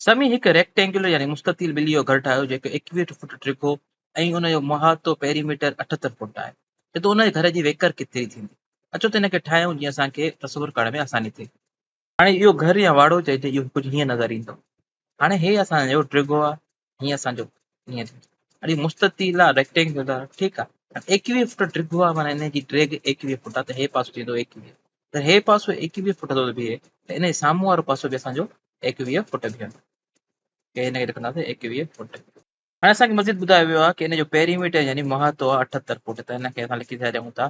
سمي هڪ ريڪٽينگيولر يعني مستطيل ٻلي جو گهر ٺاهيو جيڪو ايڪويهٺ فوٽ ڊگهو ۽ ان جو محاطو، پيريميٽر، اٺهتر فوٽ آهي. چئو ته ان جي گهر جي ويڪر ڪيتري ٿيندي؟ اچو ته ان کي ٺاهيون جيئن اسان کي تصور ڪرڻ ۾ آساني ٿئي. هاڻي اهو گهر يا واڙو چئجي اهو ڪجهه هيئن نظر ايندو. هاڻي هي اسان جو ڊگهو آهي هيء اسان جو هينئر اڙي مستطيل آ ريڪٽينگل آ ٺيڪ آ ايڪويهه فٽ ڊگهو آ معنيٰ ان جي ڊيگهه ايڪويهه فٽ آ ته هي پاسو ٿيندو ايڪويهه ته هي پاسو ايڪويهه فٽ ٿو بيهي ته ان جي سامهون وارو پاسو به اسان جو ايڪويهه فٽ بيهندو ڪي هن کي لکنداسين ايڪويهه فٽ هاڻي اسان کي مزيد ٻڌايو ويو آ ڪي ان جو پيريميٽر يعني محاطو آ اٺهتر فٽ ته هن کي اسان لکي ڇڏيون ٿا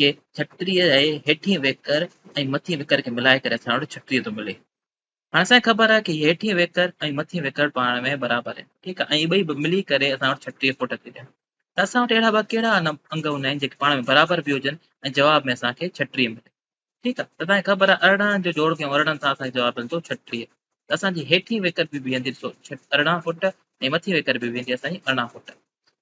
کي ڇٽيء جي هيٺين ويڪر ۽ مٿين ويڪر کي ملائي ڪري اسان وٽ ڇٽيهه ٿو ملي. هاڻي اسان کي خبر آهي ته هيٺين ويڪر ۽ مٿين ويڪر پاڻ ۾ برابر آهن، ٺيڪ آهي، ۽ اهي ٻئي ملي ڪري اسان وٽ ڇٽيهه فوٽ ٿي ڏين. ته اسان وٽ اهڙا ٻيا ڪهڙا انگ هوندا آهن جيڪي پاڻ ۾ برابر به هجن ۽ جواب ۾ اسان کي ڇٽيهه ملي. ٺيڪ آهي، ته اسان کي خبر آهي ارڙهن جو جوڙ ڪيون ارڙهن سان اسان کي جواب ملندو ڇٽيهه. ته اسان جي هيٺين ويڪر به بيهندي ڏسو ارڙهن فوٽ ۽ مٿين ويڪر به بيهندي اسان جي ارڙهن فوٽ.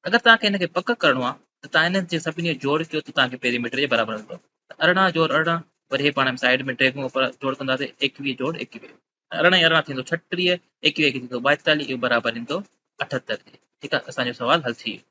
اگر توهان کي ان کي پڪ ڪرڻو آهي ته توهان انهن جي سڀني جو جوڙ ڪيو ته توهان کي پيريميٽر جي برابر ملندو ته ارڙهن جوڙ ارڙهن وري هي پاڻ ۾ سائيڊ ۾ ڊريگون اپر جوڙ ڪنداسين ايڪويهه جوڙ ايڪويهه ارڙهن ۽ ارڙهن ٿيندو ڇهٽيهه ايڪويهه ايڪويهه ٿيندو ٻائيتاليهه اهو برابر ايندو اٺهتر جي ٺيڪ آهي اسان جو سوال حل ٿي ويو